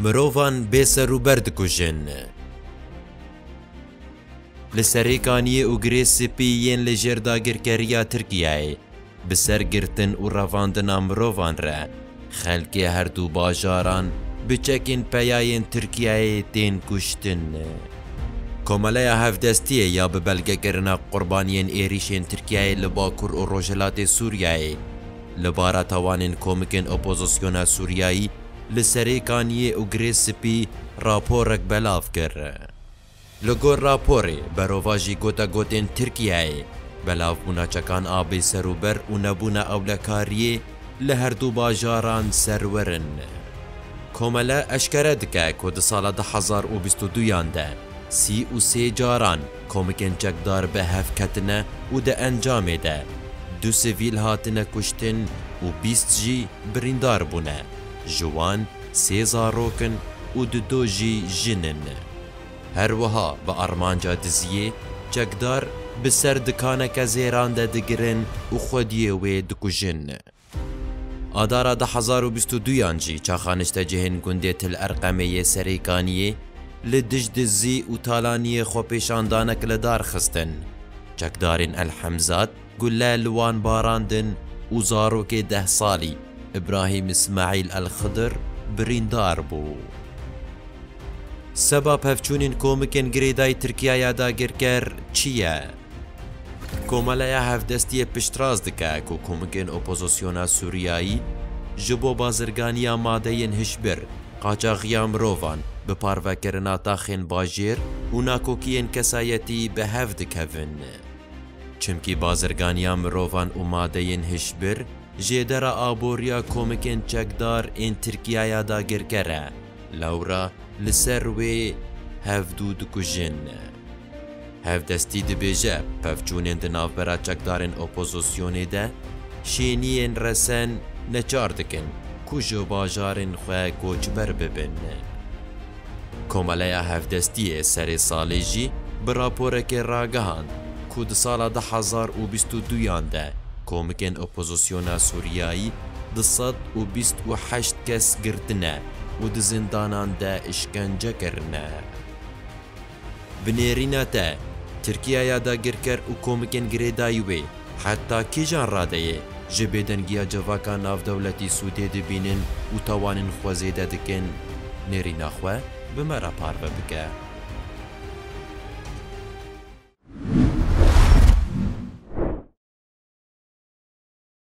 Mirovan bêserûber dikujin. Li serê kaniyê û girê spî yên li jêr dagirkeriya Tirkiyeyê bi ser girtin û revandina mirovan re xelkê herdû bajaran bi çekên peyayên Tirkiyeyê tên kuştin. Komeleya Hevdestiyê ya bi belgekirina qurbaniyên êrîşên Tirkiyeyê li Bakur û Rojhilatê Sûriyeyê li bara tawanên komikên opozisyona Sûriyeyî li Serêkaniyê û Girê Spî raporek belav kir. Li gor raporê, berovajî gotegotên Tirkiyeyê, belavbûna çekan a bêserûber û nebûna ewlekariyê, li her du bajaran serwer in. Komele eşkere dike ku di sala du hezar û bîst û du yan de sî û sê caran komikên çekdar bi hev ketine û di encamê de du sivîl hatine kuştin û bîst jî birîndar bûne, ji wan sê zarok in û di do jî jin in. Her wiha bi armanca diziyê, çekdar bi ser dikaneke zêran de digirin û xwediyê wê dikujin. Adara du hezar û bîst û du yan jî çaxa niştecihên gundê Til Erqemê yê Serêkaniyê li dij dizî û talaniyê xwepêşandanek li dar xistin. Çekdarên El Hemzat, Gule li wan barandin û zarokê deh salî Îbrahîm Îsmaîl Elxidir birîndar bû. Seba pevçûnên komikên girêdayî Tirkiye ya dagirker çi ye? Komeleya Hevdestiyê piştrast dike ku komikên opozisyona Sûriyeyî ji bo bazirganiya madeyên hişbir, qaçaxiya mirovan, bi parvekirina taxên bajêr û nakokiyên kesayetî bi hev dikevin. Çimkî bazirganiya mirovan û madeyên hişbir jêdera aboriya komikên çekdar ên Tirkiyaya dagirker e, lewra li ser wê hevdû dikujin. Hevdestî dibêje pevçûnên di navbera çekdarên opozosyonê de şêniyên resen neçar dikin ku ji bajarên xwe koçber bibin. Komeleya Hevdestî yê serê salê jî bi raporekê ragihand ku di sala du hezar û bîst û duyan de komikên opozisyona Sûriyayî du sed û bîst û heşt kes girtine û di zindanan de îşkence kirine. Bi nêrîna te, Tirkiye ya dagirker û komikên girêdayî wê heta kîjan radeyê ji bêdengiya civaka navdewletî sûdê dibînin û tawanên xwe zêde dikin? Nêrîna xwe bi me re parve bike.